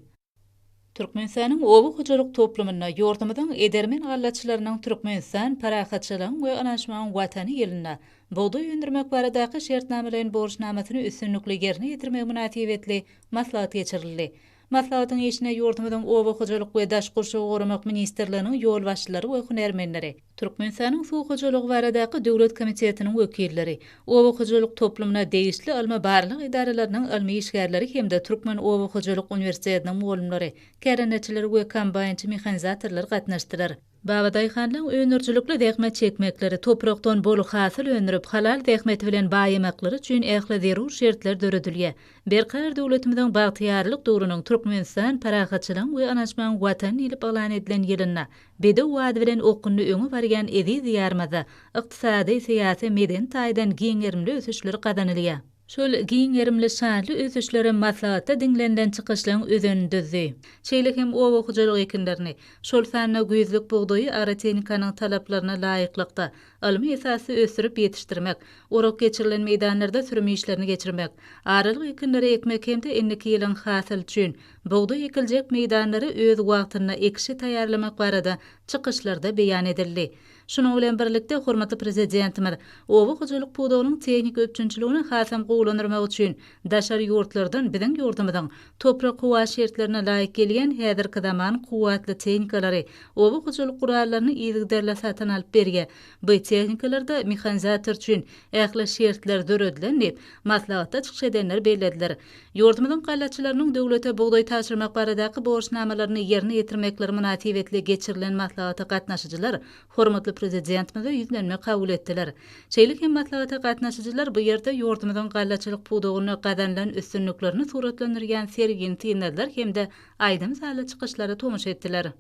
Türkmenistanyň oba hojalyk toplumynda ýurdumyzyň edermen gallaçylarynyň Türkmenistan, parahatçylygyň we ynanyşmagyň Watany ýylynda bugdaý öndürmek baradaky şertnamalaýyn borçnamasyny üstünlikli ýerine ýetirmegi mynasybetli maslahat geçirildi. Maslahatyň işine ýurdumyzyň Oba hojalyk we daş gurşawy goramak ministrliginiň ýolbaşçylary we hünärmenleri, Türkmenistanyň Suw hojalygy baradaky döwlet komitetiniň wekilleri, Oba hojalyk toplumyna degişli ylmy-barlag edaralarynyň ylmy işgärleri hem-de Türkmen oba hojalyk uniwersitetiniň mugallymlary, kärendeçiler we kombaýnçy mehanizatorlar gatnaşdylar. Babadaýhanlaryň öndürijilikli zähmet çekmekleri, toprakdan bol hasyl öndürip, halal zähmeti bilen baýamaklary üçin ähli zerur şertler döredilýär. Berkarar döwletimiziň bagtyýarlyk döwrüniň Türkmenistan parahatçylygyň we ynançmagyň Watany diýlip yglan edilen ýylynda Bedew bady bilen okgunly öňe barýan eziz Diýarymyzda ykdysady, syýasy, medeni taýdan giň gerimli ösüşler gazanylýar. Şol giň gerimli şanly ösüşler hem maslahatda diňlenilen çykyşlaryň özenini düzdi. Şeýle hem oba hojalyk ekinlerini, şol sanda güýzlük bugdaýy ara tehnikanyň talaplaryna laýyklykda, ylmy esasda ösdürip ýetişdirmek, orak geçirilen meýdanlarda sürüm işlerini geçirmek, aralyk ekinleri ekmek hem-de indiki ýylyň hasyly üçin bugdaý ekiljek meýdanlary öz wagtynda ekişe taýýarlamak barada çykyşlarda beýan edildi. Şunuň bilen birlikde, hormatly Prezidentimiz oba hojalyk pudagynyň tehniki üpjünçiligini hasam gowulandyrmak üçin daşary ýurtlardan biziň ýurdumyzyň toprak-howa şertlerine laýyk gelýän häzirki zaman kuwwatly tehnikalary, oba hojalyk gurallaryny yzygiderli satyn alyp berýär. Bu tehnikalarda mehanizator üçin ähli şertler döredilen diýip, maslahatda çykyş edenler bellediler. Ýurdumyzyň gallaçylarynyň döwlete bugdaý tabşyrmak baradaky borçnamalaryny ýerine ýetirmekleri mynasybetli geçirilen maslahata gatnaşyjylar hormatly Prezidentimize ýüzlenme kabul etdiler. Şeýle hem maslahata gatnaşyjylar bu ýerde ýurdumyzyň gallaçylyk pudagynda gazanylan üstünliklerini suratlandyrýan sergini synladylar hem-de aýdym-sazly çykyşlara tomaşa etdiler.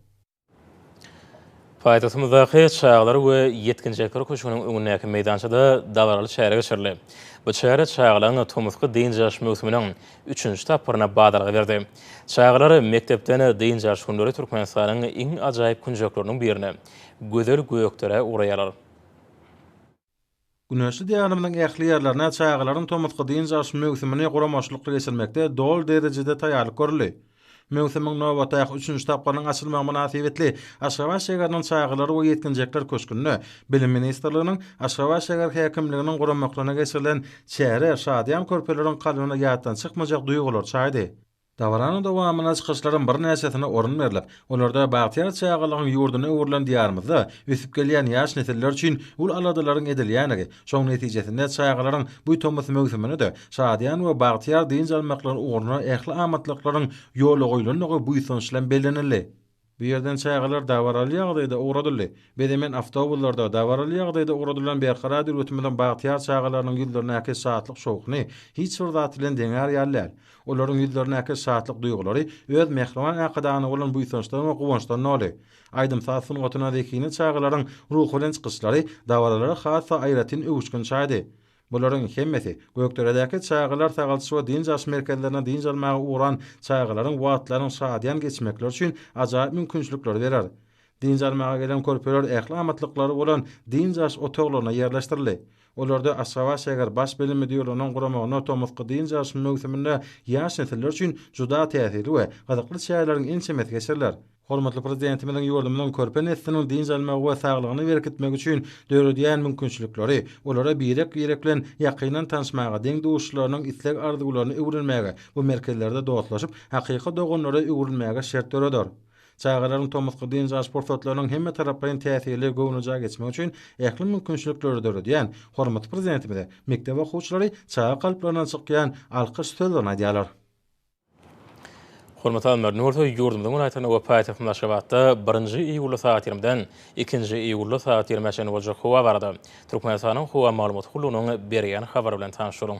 Paýtagtymyzdaky Çagalar we ýetginjekler köşgüniň öňündäki meýdançada dabaraly çäre geçirildi. Bu çäre çagalaryň tomusky dynç alyş möwsüminiň üçünji tapgyryna badalga berdi. Çagalar mekdepden dynç alyş günleri Türkmenistanyň iň ajaýyp künjekleriniň birine, gözel Gökderä ugraýarlar. Güneşli Diýarymyzyň ähli ýerlerine çagalaryň tomusky dynç alyş möwsümini guramaçylykly geçirmekde doly derejede taýýarlyk görüldi. Möwsümiň nobatdaky üçünji tapgyrynyň açylmagy mynasybetli Aşgabat şägeriniň Çagalar we ýetginjekler köşgünde Bilim ministrliginiň, Aşgabat şäher häkimliginiň guramaklygyna geçirilen çäre şadyýan körpeleriň kalbyna ýatdan çykmajak duýgulary çaýdy. Dabaranyň dowamynda çykyşlaryň birnäçesine orun berlip, olarda bagtyýar çagalygyň ýurduna öwrülen Diýarymyzda ösüp gelýän ýaş nesiller üçin uly aladalaryň edilýändigi, şonuň netijesinde çagalaryň bu tomus möwsümine-de şadyýan we bagtyýar dynç almaklary ugruna ähli amatlyklaryň ýola goýlandygy buýsanç bilen bellenildi. Bu ýerden çagalar dabaraly ýagdaýda ugradyldy. Biz hemen awtobuslarda, dabaraly ýagdaýda ugradylan Berkarar döwletimiziň bagtyýar çagalarynyň ýüzlerindäki şatlyk-şowhuny hiç bir zat bilen deňär ýaly däl. Olaryň ýüzlerindäki şatlyk duýgulary öz mähriban Arkadagana bolan buýsançdan we guwançdan doly. Aýdym-saz sungatyna zekine çagalaryň ruhubelent çykyşlary dabaralara has-da aýratyn öwüşgin çaýdy. Bularyň hemmesi Gökderedäki çagalar sagaldyş we dynç alyş merkezlerine dynç almaga ugran çagalaryň wagtlarynyň şadyýan geçmekleri üçin ajaýyp mümkinçilikleri berer. Dynç almaga gelen körpeler ähli amatlyklary bolan dynç alyş otaglaryna ýerleşdirildi. Olarda Aşgabat-şäher baş bilim müdirliginiň guramagynda tomusky dynç alyş möwsüminde ýaş nesiller üçin juda täsirli we gyzykly çäreleriň ençemesi geçiriler. Hormatly Prezidentimiziň ýurdumyzyň körpe nesliniň dynç almagy we saglygyny berkitmegi üçin döredýän mümkinçilikleri, olara birek-birek bilen ýakyndan tanyşmaga, deň-duşlarynyň isleg-arzuwlaryny öwrenmäge, bu merkezlerde dostlaşyp, hakyky doganlara öwrülmäge şert döreder. Çagalaryň tomusky dynç alyş pursatlarynyň hemmetaraplaýyn täsirli, göwnejaý geçmegi üçin ähli mümkinçilikleri döredýän hormatly Prezidentimize mekdep okuwçylary çaga kalplaryna çykýan alkyş sözlerini aýdýarlar. Hormatly alymlar, indi bolsa ýurdumyzyň welaýatynda we paýtagtymyz Aşgabatda birinji iýulda sagat ýigrimiden ikinji iýulda sagat ýigrimiä çenli boljak howa barada Türkmenistanyň Howa maglumat gullugynyň berýän habary bilen tanyşalyň.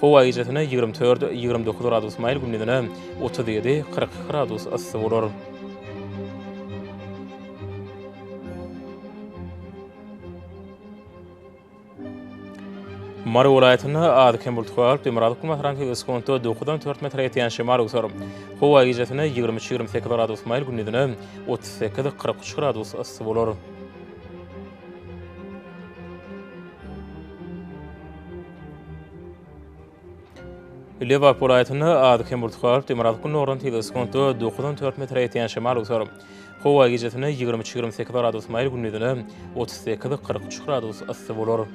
Howa gijesine ýigrimi dört, ýigrimi dokuz gradus maýyl, gündizine otuz ýedi, kyrk iki gradus yssy bolar. Mary welaýatynda az-kem bulutly howa bolup, demirgazyk günbatardan sekunda dokuzdan dört metre ýetýän şemal öwser. Howa gijesine ýigrimi üç, ýigrimi sekiz gradus maýyl, gündizine otuz sekiz, kyrk üç gradus yssy bolar. Lebap welaýatynda az kemurtgy galyp, demirgazyk gündogardan tizligi sekuntda dokuz on dört metre ýetýän şemal öwser. Howa gijesine ýigrimi üç, ýigrimi sekiz gradus maýyl, gündizine otuz sekiz, kyrk üç gradus yssy bolar.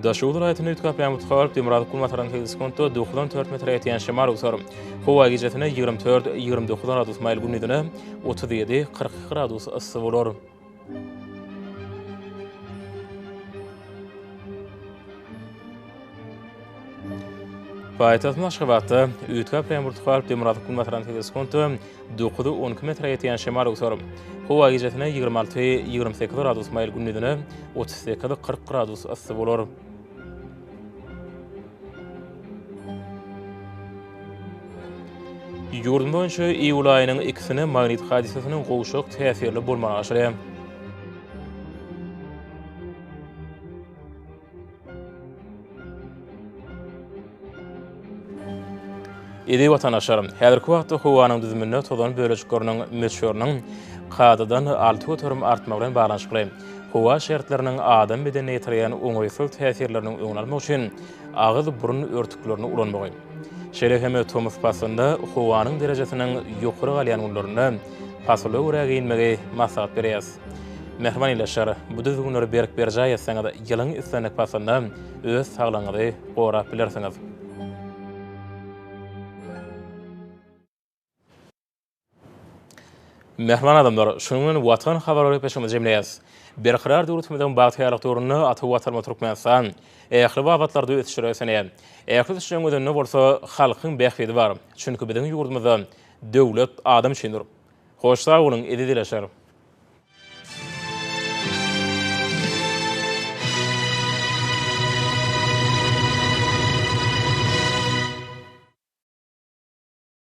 Daşoguz welaýatynda üýtgäp ýagan butkar, Demirgazyk günbataryna segsen sekuntda dokuz on dört metre ýetýän şemal öwser. Howa gijesine ýigrimi dört, ýigrimi dokuz gradus maýyl gündizine otuz ýedi, kyrk iki gradus yssy bolar. Paýtagtymyz Aşgabatda üýtgäp ýagan butkar, Demirgazyk günbataryna segsen sekuntda Dokuzy on iki metre ýetýän şemal öwser. Howa gijesine ýigrimi alty, ýigrimi sekiz gradus maýyl gündizine otuz sekiz, kyrk gradus yssy bolar. Ýurdumyz boýunça iýul aýynyň ikisine magnit hadysasynyň gowşak täsirli bolmagy aşyrýar. Eziz watandaşlar, häzirki wagtda howanyň düzüminde tozan bölejikleriniň möçberiniň kadadan alty göterim artmagy bilen baglanyşykly, howa şertleriniň adam bedenine ýetirýän oňaýsyz täsirleriniň öňüni almak üçin agyz-burun örtüklerini ulanmagy, Şeýle hem tomus paslynda howanyň derejesiniň ýokary galýan günlerinde pasyla görä geýinmegi maslahat berýäs. Mähriban ildeşler, bu düzgünleri berk berjaý etseňiz, ýylyň islendik paslynda öz saglygyňyzy gorap bilersiňiz. Mähriban adamlar, şunuň bilen Watan habarlar gepleşigimizi jemleýäs. Berkarar döwletimiziň bagtyýarlyk döwründe ata Watanymyz Türkmenistan ähli babatlarda ösüşleri ösenýär. Ähli ösüşleriň özünde bolsa halkyň bähbidi bar. Çünki biziň ýurdumyzda döwlet adam üçindir. Hoş sag boluň, eziz dileşer!